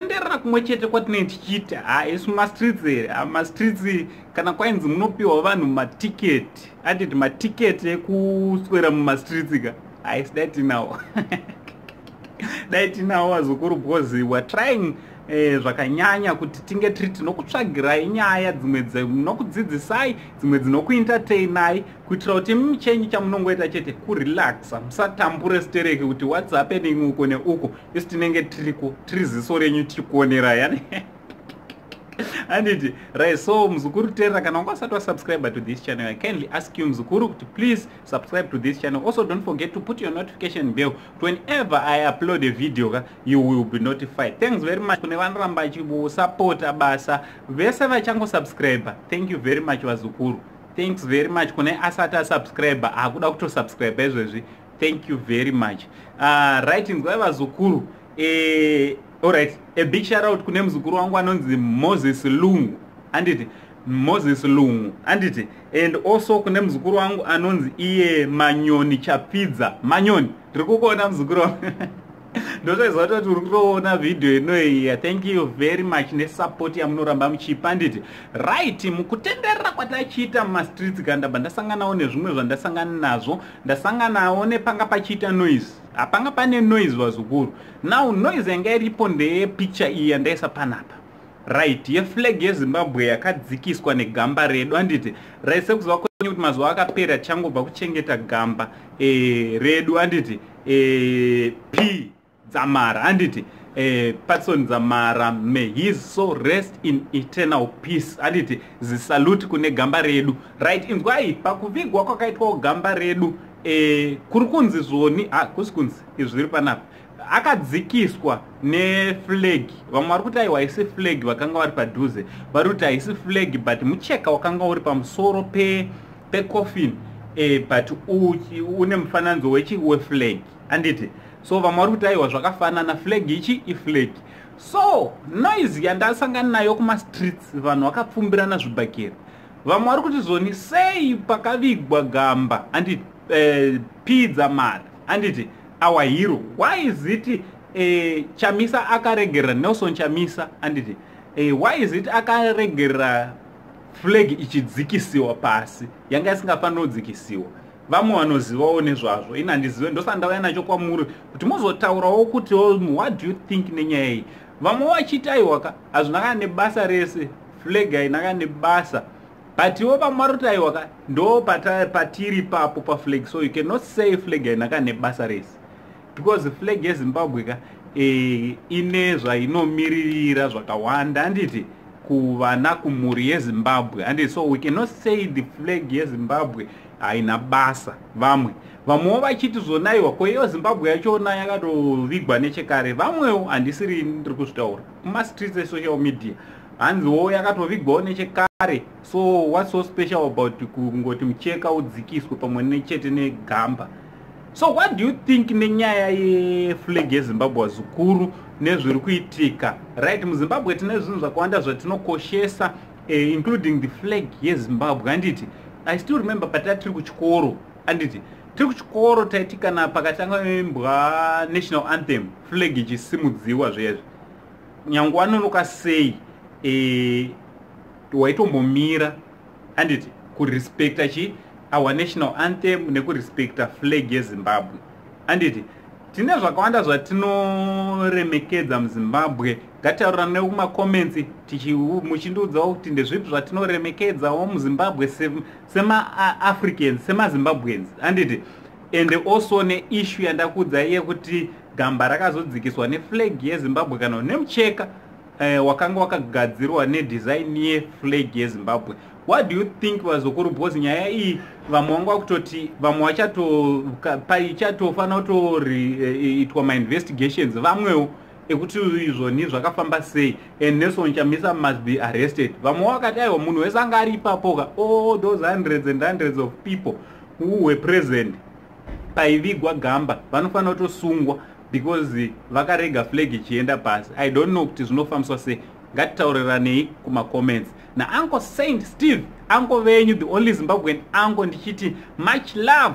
kutenderera kumwe chete kwatinenge tichiiti ha isu mastreets here mastreets kana kwainzi munopiwa vanhu matiketi atiti matiketi ekuswera mumastreets ka haisi dai tinawo dai tinawo vazukuru because weare trying eh, zvakanyanya kuti tinge tiri tinokutsvagirai nyaya dzimwe dzinokudzidzisai dzimwe dzinokuentertainai kuitira kuti michenyi chamunongoita chete kurelaxa musatambure stereki kuti whats happening uko neuko isu tinenge tiriko tiri ziso renyu tiri kuonera yani anditi right so muzukuru terera kana wanga usati wasubscribe to this channel i kindly ask you muzukuru kuti please subscribe to this channel also don't forget to put your notification bell to whenever i upload a video ka you will be notified thanks very much kune vanoramba vachisapota basa vese vachangosubscriber thank you very much vazukuru thanks very much kune asati asubscribe akuda kutosubscribe izvezvi thank you very much uh, right nzwai vazukuru eh, alright a big shout out kune muzukuru wangu anonzi moses lungu anditi moses lungu anditi and also kune muzukuru wangu anonzi iye manyoni chapfidza manyoni tiri kukuona muzukuru wangu ndozvaiziva toti uri kutoona vhidhiyo inoiya thank you very much nesapoti yamunoramba muchipa handiti right mukutenderera kwatachiita mumastreets ka ndabva ndasanganawo nezvimwe zvandasangana nazvo ndasanganawo nepanga pachiita noise hapanga pane noise vazukuru now noise yanga iripo ndeyepicture iyi yandaisa panapa right yeflag yezimbabwe yakadzikiswa negamba redu handiti right sekuziva kwenyu kuti mazuva akapera tichangobva kuchengeta gamba e, redu handiti eh, p dzamara handiti eh, patson dzamara may his so rest in eternal peace handiti zisalute kune gamba redu right inzwai pakuvigwa kwakaitwawo gamba redu eh, kuri kunzi zvoni ha ah, kusi kunzi izvi zviri panapa akadzikiswa neflag vamwe vari kuti aiwa haisi flag vakanga vari padhuze vari kuti haisi flag but mucheka wakanga uri pamusoro pe pecoffin eh, but une mufananidzo wechi weflag anditi so vamwe vari kuti aiwa zvakafanana flag ichi iflag so noise yandasangana nayo kumastreets vanhu vakapfumbirana zvibhakera vamwe vari kuti zvoni sei pakavigwa gamba anditi eh, pidza mari anditi our hero why is it eh, chamisa akaregerera nelson chamisa anditi eh, why is it akaregerera flag ichidzikisiwa pasi yanga isingafanira kudzikisiwa vamwe vanozivawo nezvazvo ini handizive ndosandauya nacho kwamuri kuti mozotaurawo kuti oh, what do you think nenyaya iyi vamwe vachiti aiwa ka hazvina kana nebasa rese flag haina kana nebasa but ivo vamwe vari kuti aiwa ka ndo patiri papo paflag so you cannot say flag haina kana nebasa rese because flag yezimbabwe ka e, ine zvainomiririra zvakawanda handiti kuvana kumhuri yezimbabwe handiti so we cannot say the flag yezimbabwe haina basa vamwe vamwewo vachiti zvonaiwa ko iyo zimbabwe yachona yakatovigwa nechekare vamwewo handisiri ndiri kuzvitaura kumastreets esocial media hanziwo yakatovigwawo nechekare so what's so special about kungoti mucheka udzikiswe pamwe nechete negamba So what do you think nenyaya yeflag yeZimbabwe wazukuru nezviri kuitika right muZimbabwe tine zvinhu zvakawanda zvatinokoshesa eh, including the flag yeZimbabwe handiti I still remember patati tiri kuchikoro handiti tiri kuchikoro taiti kana pakatanga imbwa national anthem flag ichisimudziwa zvezvi nyange wanonoka sei eh, waitombomira handiti kurespecta chi our national anthem nekurespecta flag yezimbabwe handiti tine zvakawanda zvatinoremekedza muzimbabwe ngatitaurira ne kumacomments muchindiudzawo kuti ndezvipi zvatinoremekedzawo muzimbabwe semaafricans se semazimbabweans handiti and also neishu yandakuudzai yekuti gamba rakazodzikiswa neflag yezimbabwe kana nemucheka eh, wakanga wakagadzirwa nedesign yeflag yezimbabwe what do you think vazukuru bcause nyaya iyi vamwe vanga vakutoti vamwe vachatofanira kutoitwa eh, mainvestigations vamwewo ekuti izvoni zvakafamba sei and nelson chamisa must be arrested vamwe vakati aiwa munhu wese anga ari ipapoka all those hundreds and hundreds of people who were present paivigwa gamba vanofanira kutosungwa because vakarega flag ichienda pasi i don't know kuti zvinofambiswa sei ngatitaurirane kuma comments na uncle saint steve uncle venyu the only zimbabwean uncle ndichiti much love